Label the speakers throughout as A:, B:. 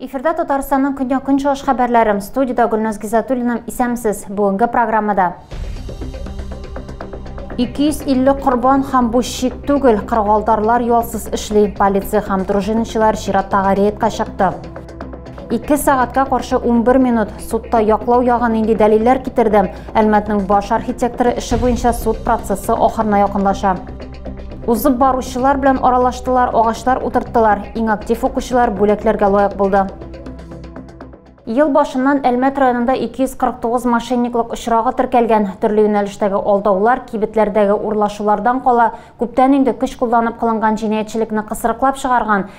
A: Эфирда Татарстанның көньяк-көнчыгыш хәбәрләрем. Студиядә Гөлназ Гизатуллина. Исәмсез. Бүгенге программада 250 корбан һәм бу шик түгел, кыргалтарлар ялсыз эшли. Полиция һәм дружинничылар чираттагы рейдка чыкты. 2 сәгатькә каршы 11 минут судта яклау ягы нинди дәлилләр китерде? Әлмәтнең баш архитекторы эше буенча суд процессы ахырына якынлаша. Узып баручылар белән аралаштылар, агачлар утырттылар. Иң актив укучылар бүләкләргә лаек булды. Ел башыннан Әлмәт районында 249 мошенниклык очрагы теркәлгән. Төрле юнәлештәге алдаулар, кибетләрдәге урлашулардан кала, күптән инде көч кулланып кылынган җинаятьчелекне кысрыклап чыгарган.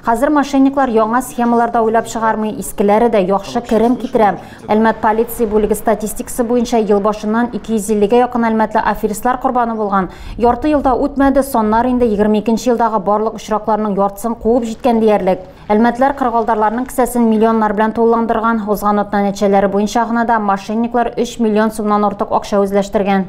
A: Хәзер мошенниклар яңа схемалар да уйлап чыгармый, искеләре дә яхшы керем китерә. Әлмәт полиция бүлеге статистикасы буенча ел башыннан 250 гә якын әлмәтле аферистлар корбаны булган. Ярты ел да үтмәде, саннар инде 22 нче елдагы барлык очракларның яртысын куып җиткән диярлек. Әлмәтләр кыргалдарларның кесәсен миллионнар белән тулыландырган. Узган атна нәтиҗәләре буенча гына да мошенниклар 3 миллион сумнан артык акча үзләштергән.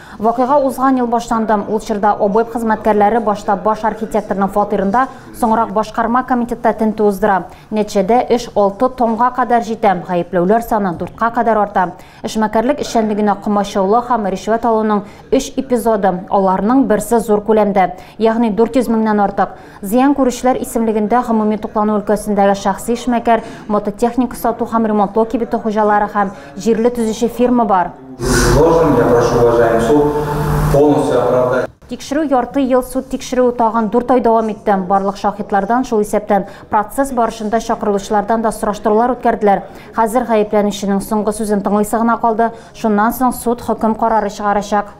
A: Вакыйга узган ел башланды. Ул чорда ОБЭП хезмәткәрләре башта баш архитекторның фатирында, соңрак башкарма комитетта тентү уздыра. Нәтиҗәдә эш алты томга кадәр җитә, гаепләүләр саны дүрткә кадәр арта. Эшмәкәрлек эшчәнлегенә комачаулау һәм ришвәт алуның өч эпизоды, аларның берсе зур күләмдә, ягъни 400 меңнән артык, Зыян күрүчеләр исемлегендә гомуми туклану өлкәсендәге шәхси эшмәкәр, мототехника сату һәм ремонтлау кибете хуҗалары һәм җирле төзүче фирма бар.
B: Тикшерү ярты
A: ел, суд тикшерүе тагын дүрт ай дәвам итте. Барлык шаһитлардан, шул исәптән процесс барышында чакырылучылардан да сораштырулар үткәрделәр. Хәзер гаепләнүченең соңгы сүзен тыңлыйсы гына калды, шуннан соң суд хөкем карары чыгарачак.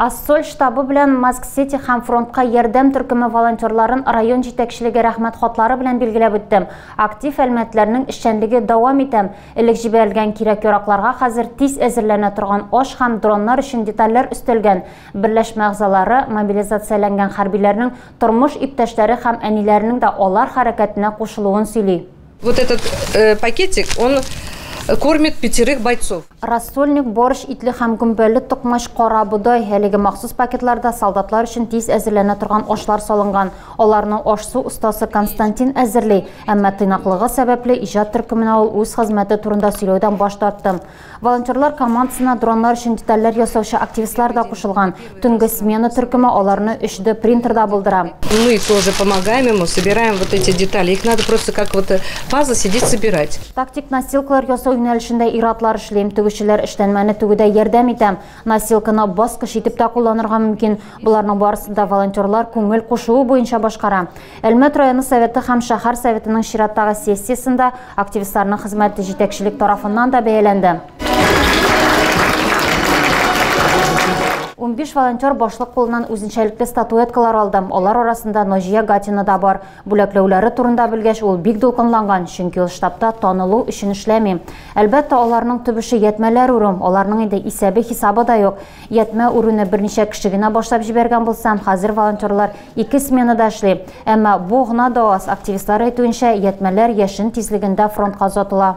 A: Ассоль штабы белән Маск-Сити һәм фронтка ярдәм төркеме волонтерларын район җитәкчелеге рәхмәт хатлары белән билгеләп үттем. Актив әлмәтләрнең эшчәнлеге дәвам итәм. Элек җибәрелгән кирәк-яракларга хәзер тиз әзерләнә торган аш һәм дроннар өчен детальләр өстәлгән. Берләшмә әгъзалары, мобилизацияләнгән хәрбиләрнең тормыш иптәшләре һәм әниләренең дә алар хәрәкәтенә кушылуын сөйли. Вот этот
C: пакетик, он кормит пятерых бойцов. Рассольник, борщ,
A: итле һәм гөмбәле токмач, карабодай, әлеге махсус пакетларда солдатлар өчен тиз әзерләнә торган ашлар салынган. Аларны аш-су остасы Константин әзерли. Әмма тыйнаклыгы сәбәпле, иҗат төркеменә ул үз хезмәте турында сөйләүдән баш тартты. Волонтерлар командасына дроннар өчен детальләр ясаучы активистлар да кушылган. Төнге смена төркеме аларны 3D принтерда булдыра. Мы тоже
C: помогаем ему, собираем вот эти детали. Их надо просто как вот пазл сидеть собирать. Тактик настилкалар
A: ясау юнәлешендә ир-атлар эшли. Тегүчеләр эшләнмәне тегүдә ярдәм итә. Носилканы баскыч итеп тә кулланырга мөмкин. Боларның барысын да волонтерлар күңел кушуы буенча башкара. Әлмәт районы советы һәм шәһәр советының чираттагы сессиясендә активистларның хезмәте җитәкчелек тарафыннан да бәяләнде. Унбиш волонтер башлык кулыннан үзенчәлекле статуэткалар алды. Алар арасында Наҗия Гатина да бар. Бүләкләүләре турында белгәч, ул бик дулкынланган, чөнки ул штабта танылу өчен эшләми. Әлбәттә, аларның төп эше ятьмәләр үрү, аларның инде исәбе-хисабы да юк. Ятьмә үрүне берничә кеше генә башлап җибәргән булса, хәзер волонтерлар ике сменада эшли. Әмма бу гына да аз, активистлар әйтүенчә, ятьмәләр яшен тизлегендә фронтка озатыла.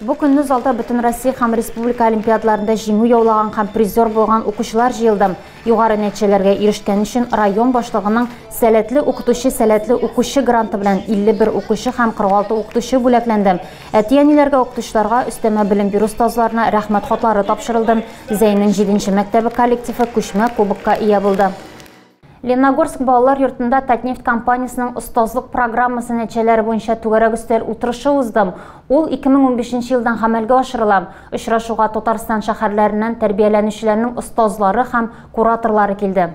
D: Бу көнне
A: залда Бөтенроссия һәм республика олимпиадаларында җиңү яулаган һәм призер булган укучылар җыелды. Югары нәтиҗәләргә ирешкән өчен район башлыгының Сәләтле укытучы, сәләтле укучы гранты белән 51 укучы һәм 46 укытучы бүләкләнде. Әти-әниләргә, укытучыларга, өстәмә белем бирү остазларына Рәхмәт хатлары тапшырылды. Зәйнең җиденче мәктәбе коллективы күчмә кубокка ия булды. Леногорск балалар йортында Татнефть компаниясенең остазлык программасы нәтиҗәләре буенча түгәрәк өстәл утырышы уздым. Ул 2015 елдан гамәлгә ашырыла. Очрашуга Татарстан шәһәрләреннән тәрбияләнүчеләрнең остазлары һәм кураторлары килде.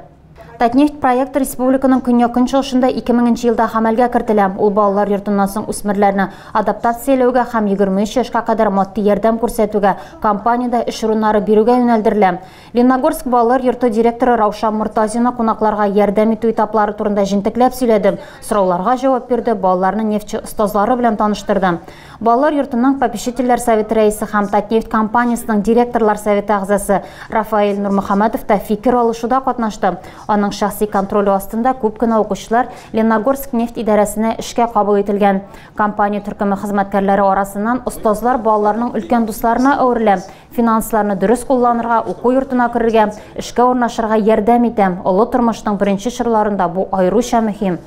A: Татнефть проекты республиканың көньяк-көнчыгышында 2000 елда гамәлгә кертелә. Ул балалар йортыннан соң үсмерләрне адаптацияләүгә һәм 23 яшькә кадәр матди ярдәм күрсәтүгә, компаниядә эш урыннары бирүгә юнәлдерелә. Ленногорск балалар йорты директоры Раушан Мортазина кунакларга ярдәм итү этаплары турында җентекләп сөйләде, сорауларга җавап бирде, балаларны нефтьче остазлары белән таныштырды. Балалар йортының попечительләр советы рәисе һәм Татнефть компаниясенең директорлар советы әгъзасы Рафаэль Нурмөхәммәтов та фикер алышуда катнашты. Аның шәхси контроле астында күп кенә укучылар Ленногорск нефть идарәсенә эшкә кабул ителгән. Компания төркеме хезмәткәрләре арасыннан остазлар балаларның өлкән дусларына әверелә, Финансларны дөрес кулланырга, уку йортына керергә, эшкә урнашырга ярдәм итә. Олы тормышның беренче чорларында бу аеруча мөһим.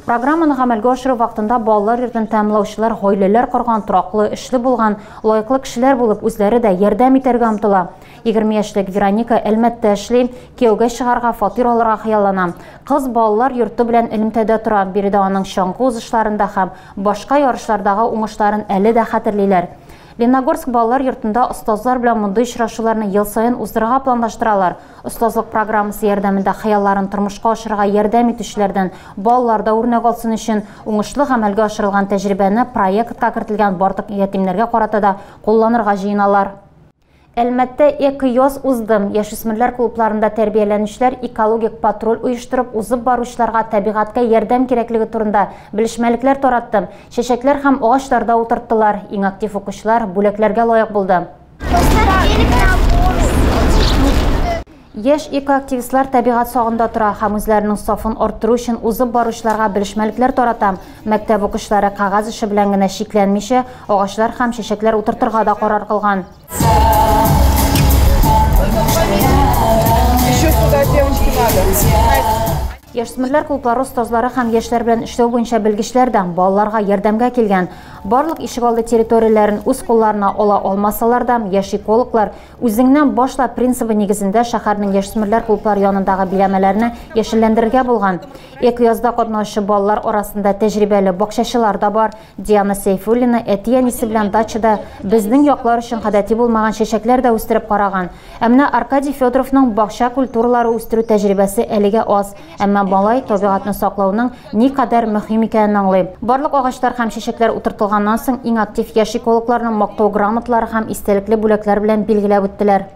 A: Программаны гамәлгә ашыру вакытында балалар йортын тәмамлаучылар гаиләләр корган, тораклы, эшле булган, лаеклы кешеләр булып, үзләре дә ярдәм итәргә омтыла. 20 яшьлек Вероника Әлмәттә эшли, кияүгә чыгарга, фатир алырга хыяллана. Кыз балалар йорты белән элемтәдә тора, биредә аның чаңгы узышларын да һәм башка ярышлардагы уңышларын әле дә хәтерлиләр. Леногорск балалар йортында остазлар белән мондый очрашуларны ел саен уздырырга планлаштыралар. Остазлык программасы ярдәмендә хыялларын тормышка ашырырга ярдәм итүчеләрдән балалар да үрнәк алсын өчен, уңышлы гамәлгә ашырылган тәҗрибәне проектка кертелгән барлык ятимнәргә карата да кулланырга җыеналар. Әлмәттә Эко-йоз узды. Яшүсмерләр клубларында тәрбияләнүчеләр экологик патруль оештырып, узып баручыларга табигатькә ярдәм кирәклеге турында белешмәлекләр таратты, чәчәкләр һәм агачлар да утырттылар. Иң актив укучылар бүләкләргә лаек булды. Яшь экоактивистлар табигать сагында тора һәм үзләренең сафын арттыру өчен узып баручыларга белешмәлекләр тарата. Мәктәп укучылары кәгазь эше белән генә чикләнмичә, агачлар һәм чәчәкләр утыртырга да карар кылган.
E: Яшьсмерләр
A: клублары остазлары һәм яшьләр белән эшләү буенча белгечләр дә балаларга ярдәмгә килгән. Барлык ишегалды территорияләрен үз кулларына ала алмасалар да, яшь экологлар Үзеңнән башла принцибы нигезендә шәһәрнең яшьсмерләр клублары янындагы биләмәләрне яшелләндерергә булган. Экоязда катнаучы балалар арасында тәҗрибәле бакчачылар да бар. Диана Сәйфуллина әти-әнисе белән дачада безнең яклар өчен гадәти булмаган чәчәкләр дә үстереп караган. Ә менә Аркадий Федоровның бакча культуралары үстерү тәҗрибәсе әлегә аз. Әмма малай табигатьне саклауның никадәр мөһим икәнен аңлый. Барлык агачлар һәм чәчәкләр утыртылганнан соң иң актив яшь экологларны мактау грамоталары һәм истәлекле бүләкләр белән билгеләп үттеләр.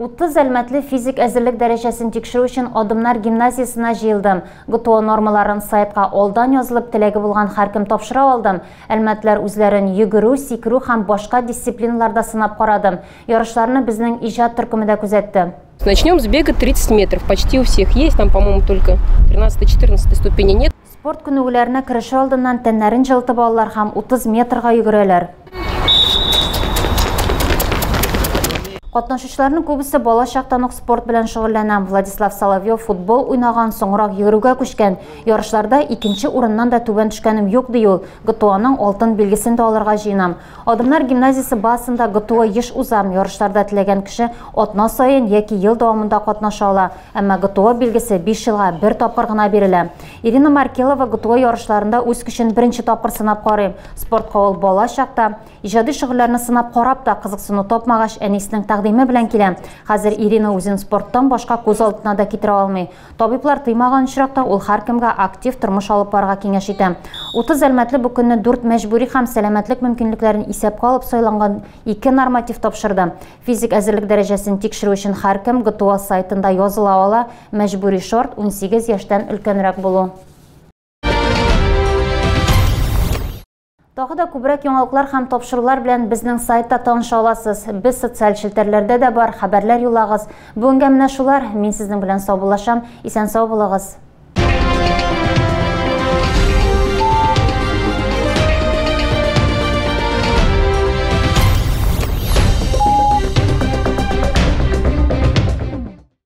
A: 30 әлмәтле физик әзерлек дәрәҗәсен тикшерү өчен Адымнар гимназиясенә җыелдым. ГТО нормаларын сайтка алдан язылып теләге булган һәркем тапшыра алдым. Әлмәтләр үзләрен йөгерү, сикерү һәм башка дисциплиналарда сынап карадым. Ярышларны безнең иҗат төркеме дә күзәтте. Начнем с бега
F: 30 метров. Почти у всех есть. Там, по-моему, только 13-14 ступени нет. Спорт күнегүләренә
A: кереше алдыннан тәннәрен җылытып алалар һәм 30 метрга йөгерәләр. Катнашучыларның күбесе бала чактан ук спорт белән шөгыльләнә. Владислав Соловьев футбол уйнаган, соңрак йөгерүгә күчкән. Ярышларда икенче урыннан да түбән төшкәнем юк, ди ул. ГТОның алтын билгесен дә алырга җыенам. Адымнар гимназиясе базасында ГТО еш уза. Ярышларда теләгән кеше атна саен яки ел дәвамында катнаша ала. Әмма ГТО билгесе биш елга бер тапкыр гына бирелә. Ирина Маркелова ГТО ярышларында үз көчен беренче тапкыр сынап карый. Спортка ул бала чакта, иҗади шөгыльләрне сынап карап та, кызыксыну тапмагач, әнисенең тәкъдиме белән килә. Хәзер Ирина үзен спорттан башка күз алдына да китерә алмый. Табиблар тыймаган очракта ул һәркемгә актив тормыш алып барырга киңәш итә. 30 әлмәтле бу көнне дүрт мәҗбүри һәм сәламәтлек мөмкинлекләрен исәпкә алып сайланган ике норматив тапшырды. Физик әзерлек дәрәҗәсен тикшерү өчен һәркем ГТО сайтында языла ала, мәҗбүри шарт, унсигез яшьтән өлкәнрәк булу. Тагы да күбрәк яңалыклар һәм тапшырулар белән безнең сайтта таныша аласыз. Без социаль челтәрләрдә дә бар, хәбәрләр юлагыз. Бүгенгә менә шулар. Мин сезнең белән саубуллашам. Исән сау булыгыз.